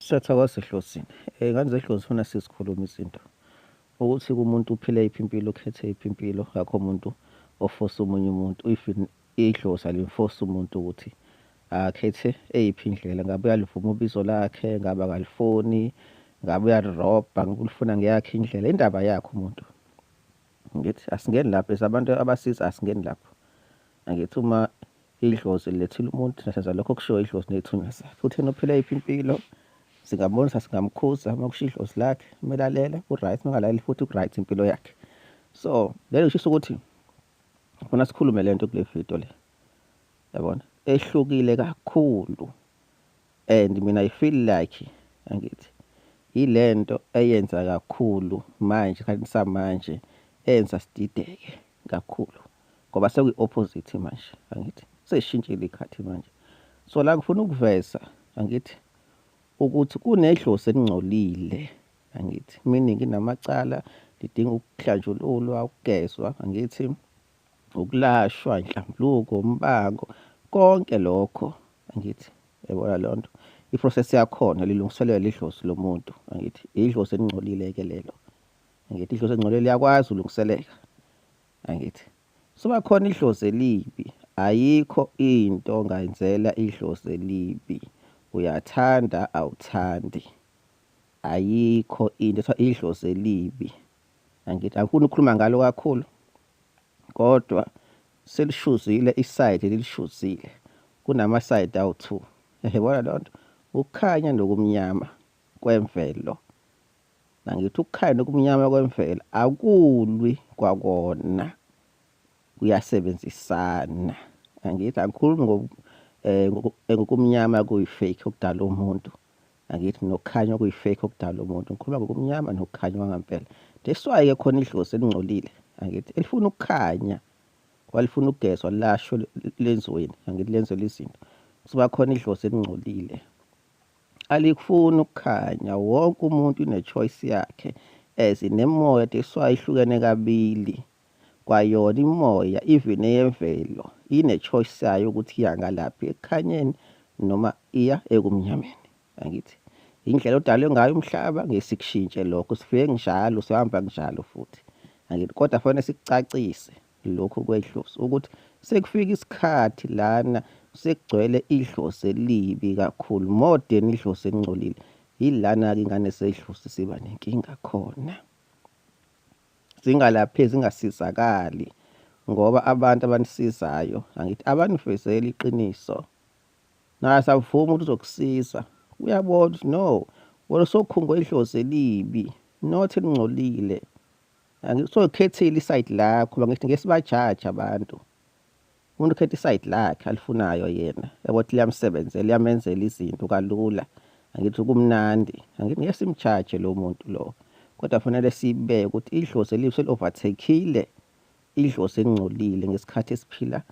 Setha kwasehlosini eh ngane zehlosi funa sizikhuluma izinto ukuthi kumuntu uphile iphi impilo ukhethe iphi impilo akho umuntu ofosa omunye umuntu if idlozi alimfosa umuntu ukuthi akhethe eyiphi indlela ngabe uyalivuma ubizo lakhe ngabe akalifuni ngabe uyalirobha ngabe ulifuna ngeyakhe indlela indaba yakhe umuntu ngithi asingeni lapho esabantu abasiza asingeni lapho angithi uma Idlozi lilethile umuntu nasenza lokho okushiwo idlozi ney'thunywa zakhe. Futhi yena uphila yiphi impilo singambonisa singamkhuza uma kusho idlozi lakhe uma elalela u-right uma ngalaleli futhi ku-right impilo yakhe. So lelo kushisa ukuthi ngifuna sikhulume le nto kule video le yabona ehlukile kakhulu and mina i feel like angithi yile nto eyenza kakhulu manje esikhathini samanje eyenza sidideke kakhulu. ngoba sekwi-opposite manje angithi seshintshile ikhathi manje so la ngifuna ukuveza angithi ukuthi kunedlozi elingcolile angithi meaning inamacala lidinga ukuhlanjululwa ukugezwa angithi ukulashwa inhlambuluko umbango konke lokho angithi yabona leyo nto i-process yakhona lilungiselelwa idlozi lomuntu angithi idlozi elingcolile-ke lelo angithi idlozi elingcolile liyakwazi ulungiseleka angithi suba khona idlozi elibi ayikho into ongayenzela idlozi elibi uyathanda awuthandi ayikho into ethiwa idlozi elibi angithi angifuni ukukhuluma ngalo kakhulu kodwa selishuzile isayidi lilishuzile kunamasayidi awu-two yayibona loo nto ukukhanya nokumnyama kwemvelo Nangithi ukukhanya nokumnyama kwemvelo akulwi kwakona kuyasebenzisana. Angithi angikhulumi ngo eh, eh ngokumnyama kuyi-fake okudala umuntu. Angithi nokukhanya okuyi-fake okudala umuntu. Ngikhuluma ngokumnyama nokukhanya kwangempela. That's why ke khona idlozi elingcolile. Angithi elifuna ukukhanya walifuna ukugezwa lasho lenziweni angithi lenzelwe izinto kusuka khona idlozi elingcolile alikufuni ukukhanya wonke umuntu une-choice yakhe as nemoya teswa ihlukene kabili kwayona imoya even eyemvelo ine-choice yayo ukuthi iya ngalaphi ekukhanyeni noma iya ekumnyameni angithi indlela odalwe ngayo umhlaba ngesikushintshe lokho sifike njalo sihamba njalo futhi angithi kodwa fanele sikucacise Lokhu kwedlozi ukuthi sekufika isikhathi lana sekugcwele idlozi elibi kakhulu more than idlozi elingcolile yilana-ke ingane sedlozi siba nenkinga khona zingalapheki zingasizakali ngoba abantu abanisizayo angithi abanifezeli iqiniso naye asavumi ukuthi uzokusiza uyabona ukuthi no wena sokhungo idlozi elibi not elingcolile angisokhethile isayidi lakho ba ngithi ngesibajaji abantu umuntu ukhetha isayidi lakhe alifunayo yena yabo ukuthi liyamsebenzela liyamenzela izinto kalula angithi kumnandi angithi ngeke simjaje lo muntu lo kodwa fanele sibeke ukuthi idlozi elibi seli-overthekile idlozi elingcolile ngesikhathi esiphila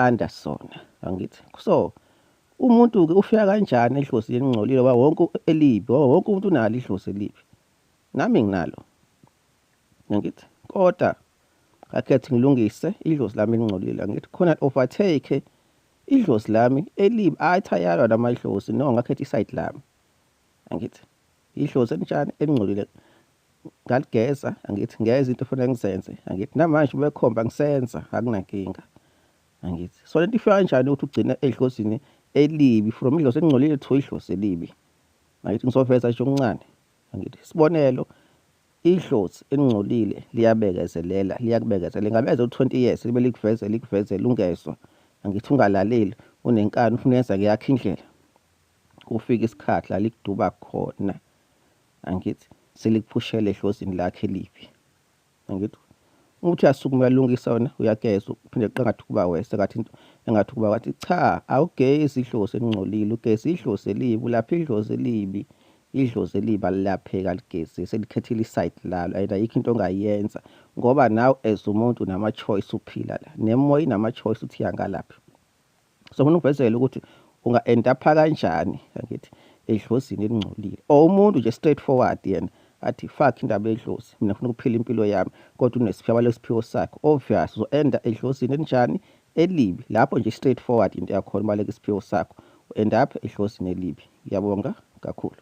under sona angithi so umuntu-ke ufika kanjani edlozi elingcolile wonke elibi wonke umuntu unalo idlozi elibi nami nginalo ngithi koda akhethi ngilungise idlozi lami elingcolile ngithi khona overtake idlozi lami elibi athi ayalwa noma idlozi no ngakhetha isayidi lami angithi idlozi elinjani elingcolile ngaligeza angithi ngeza into efanele ngizenze angithi namanje ubekhomba ngisenza akunankinga angithi so lento ifika kanjani ukuthi ugcine edlozini elibi from idlozi elingcolile to idlozi elibi angithi ngizoveza nje okuncane Angithi isibonelo idlozi elingcolile liyabekezelela liyakubekezelela ngabe ezo 20 years libe likuvezela likuvezela ungezwa angithi ungalaleli unenkani ufuna yenza yakhe indlela kufika isikhathi la likuduba khona angithi selikuphushela edlozini lakhe libi Angithi uthi uyasukuma uyalungisa wena uyageza uphinde qangathi kuba wese kathi engathi kuba wathi cha awugezi idlozi elingcolile ugeza idlozi elibi ulapha idlozi elibi idlozi elibi alilapheki aligezi selikhethile isayidi lalo and ayikho into ongayenza ngoba nawe as umuntu unama-choice uphila la nemoya inama-choice uthi yangalaphi so ngifuna ukuvezela ukuthi unga-endapha kanjani angithi edlozini elingcolile or umuntu nje straight forward yena athi fuck indaba edlozi mina ngifuna ukuphila impilo yami kodwa unesiphiwo lesiphiwo sakhe obvious uzo-enda edlozini elinjani elibi lapho nje straight forward into yakhona ubaleka isiphiwo sakho u-end up edlozini elibi ngiyabonga kakhulu